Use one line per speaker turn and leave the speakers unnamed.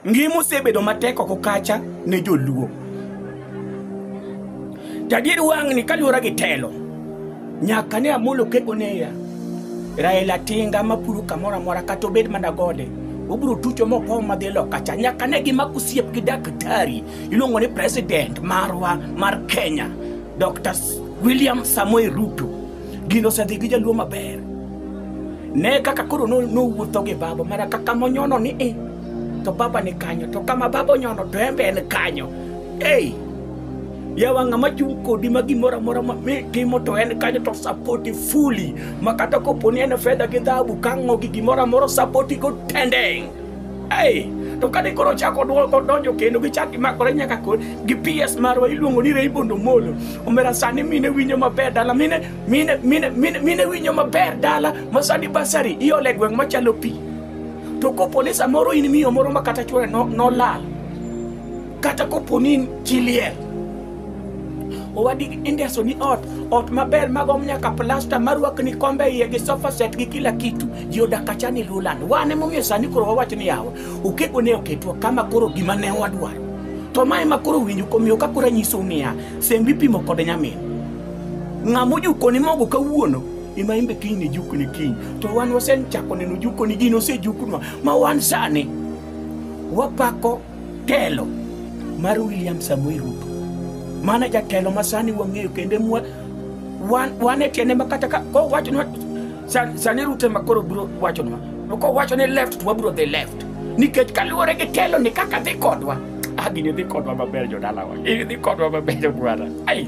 Ngima osebedo matek oko kacha ne joluo. Tadier wang'ni kaluwore gi telo, nyaka ne Amolo Keko neya. Raila Tinga mapuro kamoro amora kata obed mana gode, obiro tucho mopow madhi loka cha. Nyaka ne gima kusiep gi daktari iluongo ni president marwa mar Kenya, Dr. William Samoei Ruto. Gino osedhi gi jaluo maber. ne kaka koro no- nowuotho gi baba mana kaka monyono ni e to baba ni kanyo to kama baba onyono to en be en kanyo ei yawa ng'ama chung' kodi ma gimoro amora ma mi timo to en kanyo to sapoti fuli ma kata kopo ni en fedha gi dhahabu kang'o gi gimoro amora sapoti go tendeng' ei to kane koro chako dwoko donjo kendo gichak gimakore nyaka kod gi ps marwa iluongo ni raymond omolo omera sani mine winjo maber dala mine mine mine mine mine winjo maber dala ma sani basari iole gweng' machalo pi to kopo ni samoro in miyo moro ma kata chwore no- nolal kata kopo ni in chi liel owadi indeso ni ot ot maber magom nyaka plasta marwakni kombe iye gi sofa set gi kila kitu ji odak acha ni lulan wan emomiyo sani koro wawacho ni yawa okego ne oketwa kama koro gima ne wadwaro to mae ma koro winjo komiyo ka koro anyisou niya sembi pimo kod nyamin Ng'ama ojukoni mogo kawuono ema imbe kiny ne jukni kiny to wan wasechako neno jukoni gin osejukunwa ma wan sani wapako telo mar William Samoei Ruto mana jatelo ma sani wang'eyo kendo wan e tiende ma kata ka wachonwa Sa- sani ruto ema koro biro wachonwa to kowacho ni left to wabiro dhi left nikech kaluwore gi telo ni kaka dhi kodwa ah, gini dhi kodwa maber jodalawa gini dhi kodwa maber bwana ai